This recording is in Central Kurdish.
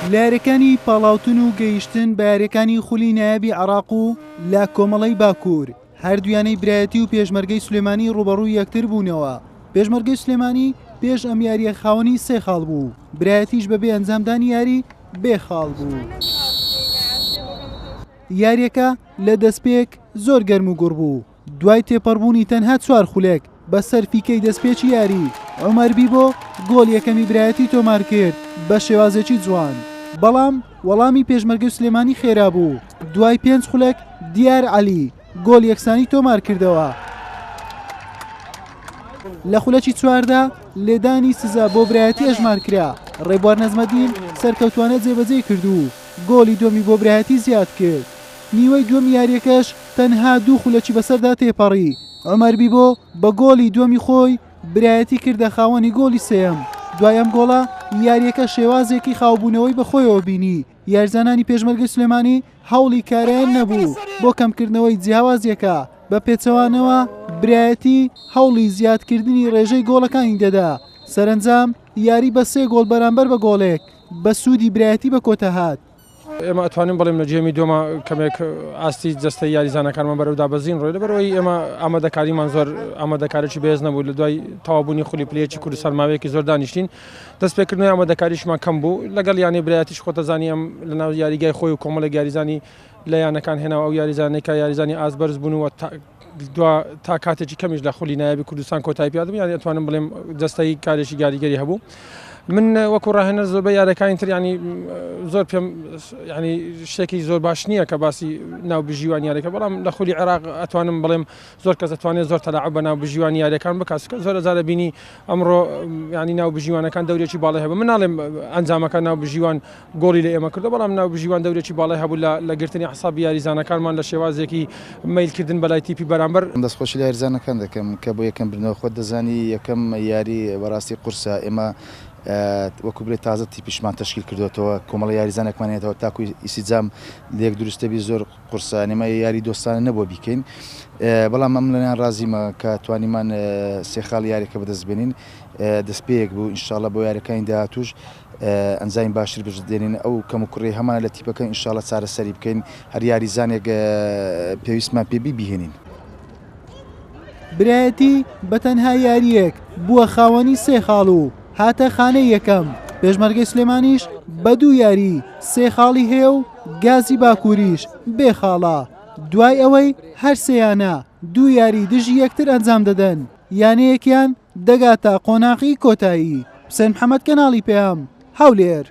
لەیاریەکانی پاڵاوتن و گەیشتن بە یاریەکانی خولی نایابی عێراق و لە کۆمەڵەی باکوور هەردوویانەی برایەتی و پێشمەرگەی سلێمانی ڕوبەڕووی یەکتر بوونەوە پێشمەرگەی سلێمانی پێش ئەم یاریە خاوەنی سێ خاڵ بوو برایەتیش بەبێ ئەنجامدانی یاری بێ خاڵ بوو یاریەکە لە دەستپێک زۆر گەرم و گوڕ بوو. دوای تێپەڕبوونی تەنها چوار خولەک بە سەر فیکەی دەستپێکی یاری، عومەر بیبۆ گۆڵ یەکەمی برایەتی تۆمارکرد بە شێوازێکی جوان، بەڵام وەڵامی پێشمەرگەی سلێمانی خێرا بوو، دوای پێنج خولەک دیار عەلی گۆڵ یەکسانی تۆمارکردەوە. لە خولەکی چواردا لێدانی سزا بۆ برایەتی ئەژمارکرا، ڕێبوار نەجمەدین سەرکەوتوانە جێبەجێی کرد و گۆڵی دووەمی بۆ برایەتی زیادکرد، نیوەی دووەمی یارییەکەش تەنها دوو خولەکی بەسەردا تێپەڕی، عومەر بیبۆ بە گۆڵی دووەمی خۆی برایەتی کردە خاوەنی گۆڵی سێیەم، دوای ئەم گۆڵە یارییەکە شێوازێکی خاوبوونەوەی بەخۆیەوە بینی، یاریزانانی پێشمەرگەی سلێمانی هەوڵی کارایان نەبوو بۆ کەمکردنەوەی جیاوازییەکە، بە پێچەوانەوە برایەتی هەوڵی زیادکردنی رێژەی گۆڵەکانی دەدا، سەرەنجام یاری بە سێ گۆڵ بەرامبەر بە گۆڵێک بە سوودی برایەتی بەکۆتاهات. ئێمە ئەتوانین بڵێم لە جێمی دۆما کەمێک ئاستی جەستەی یاریزانەکانمان بەرەو دابەزین ڕۆی لەبەرەوەی ئێمە ئامادەکاریمان زۆر ئامادەکارێکی بەێز نەبوو لە دوای تەوابوونی خولی پلەیەکی کوردستان ماوەیەکی زۆر دانیشتین دەست پێکردنی ئامادەکاریشمان کەم بوو لەگەڵ یانی برایەتیش خۆتەزانی ئەم لە ناو یاریگای خۆی و کۆمەڵە یاریزانی لە یانەکان هێناوە ئەو یاریزانێکە یاریزانی ئاز بەرز بوون و دوا تا کاتێکی کەمیش لە خولی نایابی کوردستان کۆتایی پێ دەبێت یانی ئەتوانم بڵێم دەستەی کارێکی گاریگەری هەبوو من وەکو ڕاهێنەر زۆربەی یارەکانی تر ینی زۆر پێم ینی شتێکی زۆر باش نییە کە باسی ناو بژیوان یارەکە بەڵام لە خولی عێراق ئەتوانم بڵێم زۆر کەس دەتوانێت زۆر تەلاعە بە ناو بژیوان یارەکان بکاسکە زۆر زارە بینی ئەمڕۆ ینی ناو بژیوانەکان دەورێکی باڵی هەبە مناڵێم ئەنجامەکە ناو بژیوان گۆڵی لە ئێمە کردووە، بەڵام ناوبژیوان دەورێکی باڵای هەبوو لە لە گرتنی ئەعسابی یاریزانەکانمان لە شێوازێکی مەیلکردن بەلای تیپی بەرامبەر. دەستخۆشی لە یاریزانەکان دەکەم کە بۆ یەکەم بردنەوە، خۆت دەزانی یەکەم یاری بەراستی قورسە، ئێمە وەکو بلێ تازە تیپیشمان تەشکیل کردۆتەوە، کۆمەڵە یاریزانێکمان هێنێتەوە تاکو ئیسیجام لێک دروستەبی زۆر قورسە، یانی ئێمە یاری دۆستانە نەبووە بیکەین، بەڵام من لەنان رازیمە کە توانیمان سێ خاڵی یاریەکە بەدەست بێنین، دەست پێیەک بوو، انشااللە بۆ یاریەکانی داهاتووش. ئەنجامی باشتر بەجد دێنین ئەو کەم و کوڕی هەمانە لە تیپەکە انشاللە چارەسەری بکەین هەر یاریزانێک پێویستمان پێ بی بیهێنین. برایەتی بە تەنها یارییەک بووە خاوەنی سێ خاڵ و هاتە خانەی یەکەم، پێشمەرگەی سلێمانیش بە دوو یاری سێ خاڵی هەیە و گازی باکووریش بێ خاڵە، دوای ئەوەی هەرسێیانە دوو یاری دژی یەکتر ئەنجام دەدەن، یانەیەکیان. دەگاتە قۆناغی کۆتایی. حوسێن محەمەد کەناڵی پەیام، هەولێر.